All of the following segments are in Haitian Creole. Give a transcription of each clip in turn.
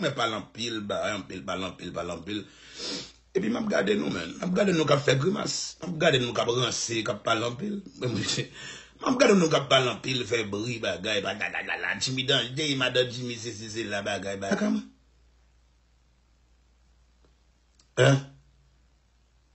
Mwen pale anpil bagay, anpil pale, anpil pale, anpil. Epi m ap gade nou menm. M ap gade nou k ap fè grimas. M ap gade nou k ap ranse, k ap pale anpil. M ap gade nou k ap pale anpil, fè bri bagay, patatatata. Jimmy danje, madan Jimmy sesi sela bagay bagay. Sa ka mwen? Hein?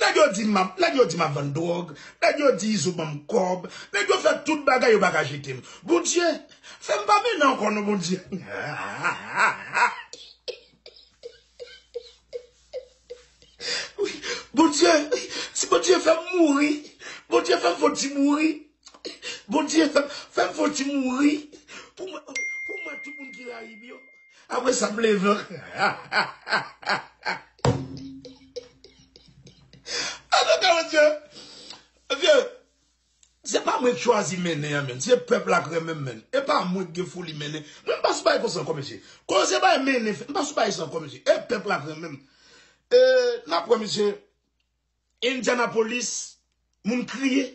Nèg yo di map nèg yo di map vann dròg, nèg yo di izo banm kòb, nèg yo fè tout bagay yo paka jete m. Bondye fè m pa mennen ankò non Bondye Bondye si Bondye fè m mouri Bondye fè m fon ti mouri Bondye fè m fon ti mouri pou mwen pou mwen tout moun ki rayi m yo. Apre sa m leve ank. Antouka mesye, mesye, se pa mwen k chwazi mennen an menn, se pèp la k renmen m menn. E pa mwen k gen foli mennen. Mwen m pa sou bagay konsa ankò mesye. Koze bagay mennen, m pa sou bagay sa ankò mesye. E pèp la k renmen m. E n ap wè mesye, Indianapolis moun kriye.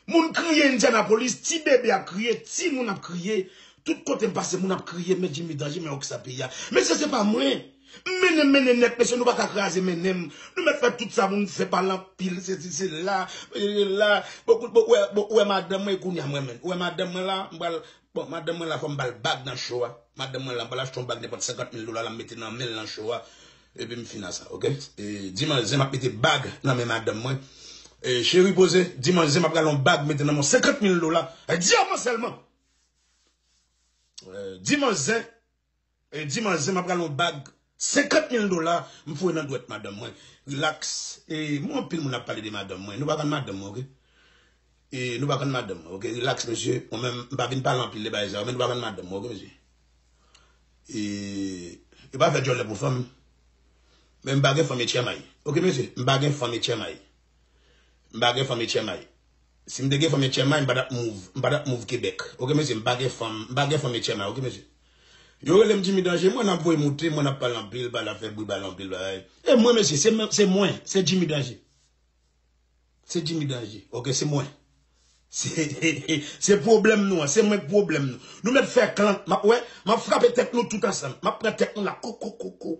Moun kriye Indianapolis, ti bebe ap kriye, ti moun ap kriye, tout kote m pase moun ap kriye men Jimmy danje men oksa peyi a. Mesye se pa mwen. M mennen m mennen nèt mesye nou pa ka kraze mennen m. Nou mèt fè tout sa pou nou fè pale anpil sesi sela, sela. Ou wè madanm mwen kounye a m renmen l. Ou wè madanm mwen la m pral Bon madanm mwen la fòm bal bag nan show a madanm mwen la m pral achte yon bag nenpòt 50 mil dola la m mete nan menl nan show a epim fin a sa ok di manzè map mete bag nan men madanm mwen cheri poze di manzè map gade yon bag mete nan menw 50 mil dola di a mwen sèlman di manzè Di manzè map rale yon bag 50 mil dola m foure nan dwèt madanm mwen Relax e m wè anpil moun ap pale de madanm mwen Nou pa konn madanm mwen ok e Nou pa konn madanm mwen ok Relax mesye mwen menm m pa vin pale anpil de bagay sa yo men Nou pa konn madanm mwen ok mesye e Yo pa fè djòlè pou fanm men m pa gen fanm etchèmay ok mesye m pa gen fanm etchèmay M pa gen fanm etchèmay. Si m te gen fanm etchèmay, m pa tap move. M pa tap move Kebèk. Oke mesye, m pa gen fanm. M pa gen fanm etchèmay. Oke mesye. Yo rele m Jimmy Danger. Mwen ap voye moute. Mwen ap pale anpil. Pale ap fè bri. Pale anpil bagay. E mwen mesye. Se mwen. Se mwen. Se Jimmy Danger. Se Jimmy Danger. Oke. Se mwen. Se. Se pwoblèm nou an. Se mwen k pwoblèm nou. Nou mèt fè klan. M ap wè. M ap frape tèt nou tout ansanm. M ap pran tèt nou la. Koukoukoukou.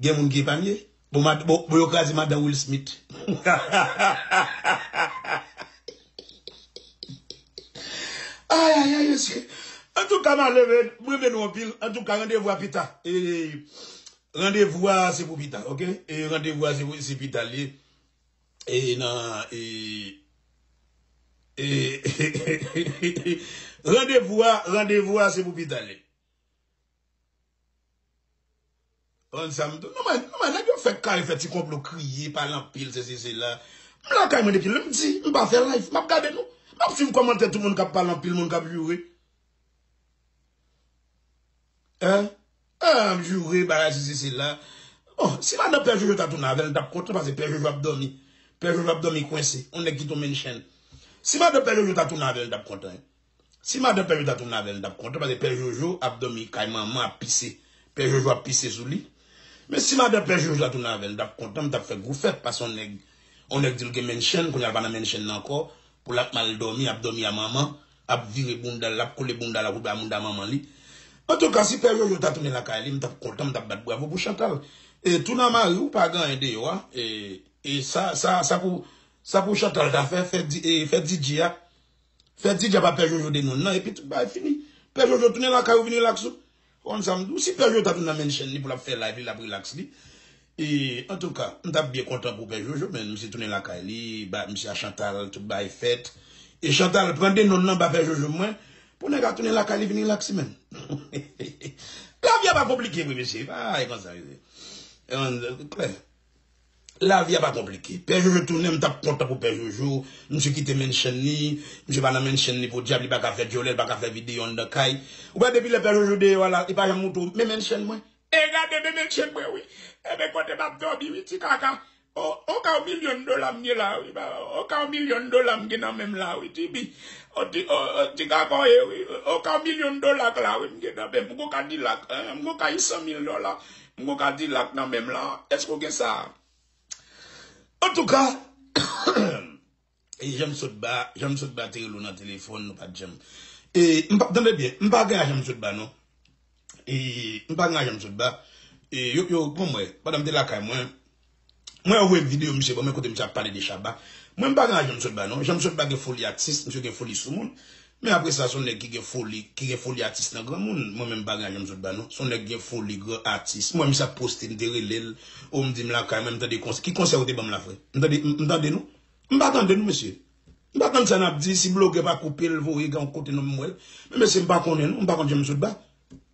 Gen moun ki epanye. Bon yo kraze madan Will Smith. Ayayay mesye. Antouka m ale men. M renmen nou anpil. Antouka randevou a pita. Randevou a se pou pita ok. Randevou a se pita li ye. E nan e. Randevou a se pou pita li ye. An sa m tou. Non men, non men nèg yo fèk kare fè ti konplo kriye, pale anpil sesi sela. M lakay mwen depi lè m di m pa fè live, m ap gade nou. M ap swiv kòmantè tout moun k ap pale anpil, moun k ap joure. Hein? An an ap joure bagay sesi sela. Bon, si madan pè Jojo ta tounen avè l, m t ap kontan pase pè Jojo ap dòmi. Pè Jojo ap dòmi kwense, on nèg ki tonbe n chèn. Si madan pè Jojo ta tounen avè l, m t ap kontan. Si madan pè jojo ta tounen avèl m tap kontan paske pè jojo ap domi kay manman ap pise pè jojo ap pise sou li men si madan pè jojo ta tounen avèl m tap kontan m tap fè gwo fèt paske yon nèg yon nèg dil gen menchèn kounya l pa nan menchèn nan ankò pou l ap mal domi ap domi a manman ap vire boundal lap kole boundal ak oubyen a mounda manman li antouka si pè jojo ta tounen lakay li m tap kontan m tap bat bravo pou chantal e tounen a mariw pa gen anyen deyò a e sa sa sa pou sa pou chantal ta fè fè di e fè didye a Fè ti djab a pè jojo de moun nan epi tout bagay fini. Pè jojo tounen lakay ou vin relax ou. Ou konn sa m di w si pè jojo ta tounen nan mention li pou l ap fè live li l ap relax li. E antouka m ta byen kontan pou pè jojo men misye tounen lakay li ba misye a chantal tout bagay fèt. E chantal pran denon nan ba pè jojo mwen pou nèg a tounen lakay li vin relax li menm. Lavi a pa konplike vre mesye e pa konsa li ye. Klè Lavi a pa konplike. Pè Jojo tounen m tap kontan pou Pè Jojo. Misye kite mansion li. Misye pa nan mansion li podyab li paka fè dyòlè li paka fè video anndan kay. Ou wè depi lè Pè Jojo deyò a la li pa janm montre w men mansion mwen. E gade men mansion mwen wi. E men kote map dòmi wi ti kaka. On ka on milyon dola m gen la wi. On ka on milyon dola m gen nan menm la wi TB. On ti kaka w ye wi. On ka on milyon dola k la wi m gen nan menm. M gon kadilak. M gon kay 100 mil dola. M gon kadilak nan menm lan eske w gen sa. Antouka e jan m sot ba jan m sot ba te rele w nan telefòn nou pat janm e m pa tande byen m pa gen lajan m sot ba non e m pa gen lajan m sot ba e yo yo bon mwen pandan m te lakay mwen. Mwen yo voye m video misye banm kote misye ap pale de Shabba. Mwen m pa gen laj Janm Sotba non. Janm Sotba gen foli atis, misye gen foli soumoun. Men apre sa son nèg ki gen foli, ki gen foli atis nan granmoun. Mwen menm m pa gen laj Janm Sotba non. Son nèg gen foli gran atis. M wè misye ap poste m te rele l. O m di m lakay mwen m tande konsè. Ki konsè ou te banm la frè? M tande, m tande nou. M pa tande nou mesye. M pa tande sa nap di. Si blogè pa koupe l voye gen yon kote non m wè l. Men mesye m pa konnen nou. M pa konn Janm Sotba.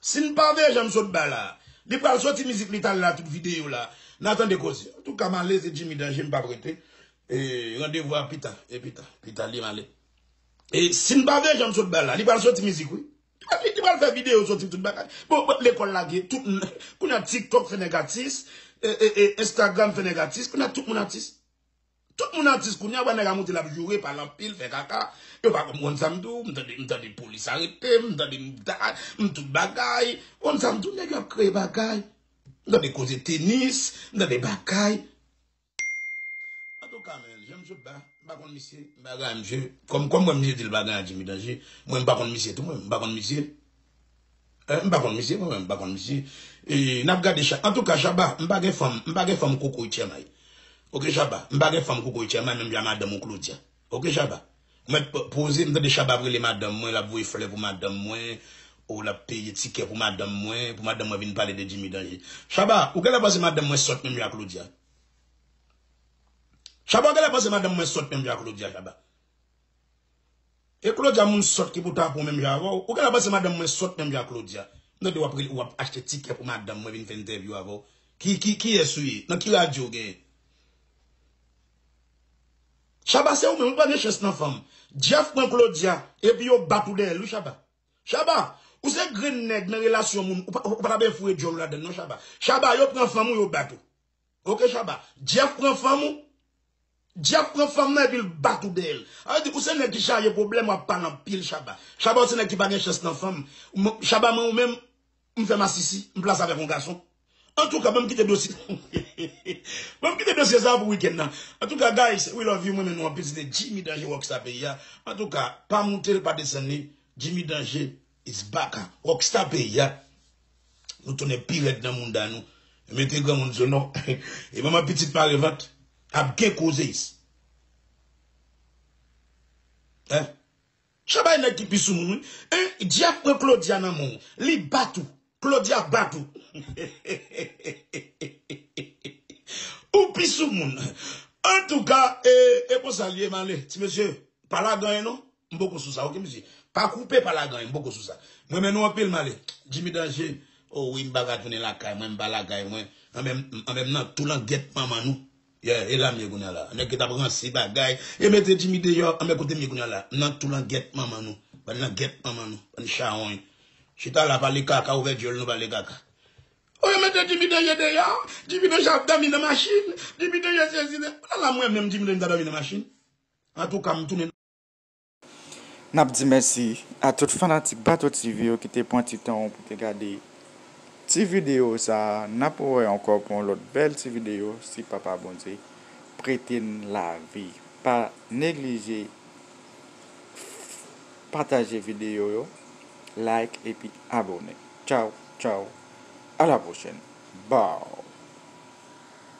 Sin pa veye janm sot ba la Li pral soti mizik li tal la tout video la na tande koze antouka male se Jimmy danje mpap rete randevou a pita epita pita li male e sin pa veye janm sot ba la Li pral soti mizik wi Li pral fè video soti tout bagay bon lekol lage tout kounya tiktok fè nèg atis e e Instagram fè nèg atis kounya tout moun atis. Tout moun atis kounya wè nèg a monte lap joure pale anpil fè kaka yo pa konn konn sam diw m tande m tande polis aretem m tande m dat m tout bagay konn sam diw nèg yo ap kreye bagay m tande koze tenis m tande bagay antouka men janm sot la m pa konn misye m pa konn misye kòm kòm wè misye dil pa gen ak jimi danje mwen m pa konn misye tou mwen m pa konn misye. M pa konn misye mwen menm m pa konn misye n ap gade chak antouka shabba m pa gen fanm m pa gen fanm kokoy tchèmay ok shabba m pa gen fanm kokoy tchèmay menm jan a madanm ou claudia ok shabba ou mèt poze m tande shabba ap rele madanm mwen l ap voye flè pou madanm mwen o l ap peye tikè pou madanm mwen pou madanm mwen vin pale de djimi danje shabba ou genlè panse madanm mwen sòt menm jan a claudia shabba ou genlè panse madanm mwen sòt menm jan a claudia shabba. E Claudia moun sòt ki pou ta pou menm jan avè w. Ou genlè panse madanm mwen sòt menm jan ak Claudia. M tande w ap rele, w ap achte tikè pou madanm mwen vin fè entèvyou avè w. Ki, ki, kiyès ou ye? Nan ki radyo w genyen? Shabba se ou menm, ou pa gen chans nan fanm. Jeff pran Claudia, epi yo bat ou dèyè l wi Shabba. Shabba! Ou se grenn nèg nan relasyon moun, ou pa ta byen foure djòl ou ladan l non Shabba. Shabba, yo pran fanm ou, yo bat ou. Ok Shabba, Jeff pran fanm ou? Jeff pran fanm nan epi l bat ou deyèl. Sa vle di ou se nèg ki chaje pwoblèm wap pale anpil Shabba. Shabba ou se nèg ki pa gen chans nan fanm. Shabba mwen ou menm m fè masisi, m plase avèk yon gason. Antouka banm kite dosye banm kite dosye sa pou weekend nan. Antouka guys we love you m renmen nou anpil se te Jimmy Danger Rockstar peyi a. Antouka pa moute l pa desann li Jimmy Danger. It's back a Rockstar peyi a Nou tounen pi rèd nan mounda nou Mete granmoun sou nou E manman pitit mare vant Ap gen koze is Hein Shabba e nèg ki pi sou moun wi Hein Djaf pran Claudia nan menw Li bat ou Claudia bat ou Hehehehehehe Ou pi sou moun Antouka e konsa l ye m ale ti mesye Pa lagan e non M poko sou sa ok mesye. Pa koupe pa lagan M poko sou sa. M renmen nou anpil m ale. Jimmy Danger Oh wi m pa ka tounen lakay mwen m pa lakay mwen Anben m nan tou langèt manman nou Yeah e la m ye kounya la Nèg yo tap ranse bagay Yo mete Jimmy deyò Anben kote m ye kounya la M nan tou langèt manman nou Bann langèt manman nou Bann chawony Chita la pale kaka ouvè dyol nou pale kaka Oh yo mete Jimmy Danger deyò Jimmy Danger ap dòmi nan machin Jimmy Danger sezi Ala m renmen m Jimmy Danger m ta dòmi nan machin Antouka m tounen. Nap di mèsi a tout fanatik Bato TV yo ki te pran ti tan ou pou te gade ti video sa a, nap wè ankò pou yon lòt bèl ti video si papa Bondye prete n lavi pa neglije pataje video yo like epi abone tchaww tchaww a la pwochèn baww.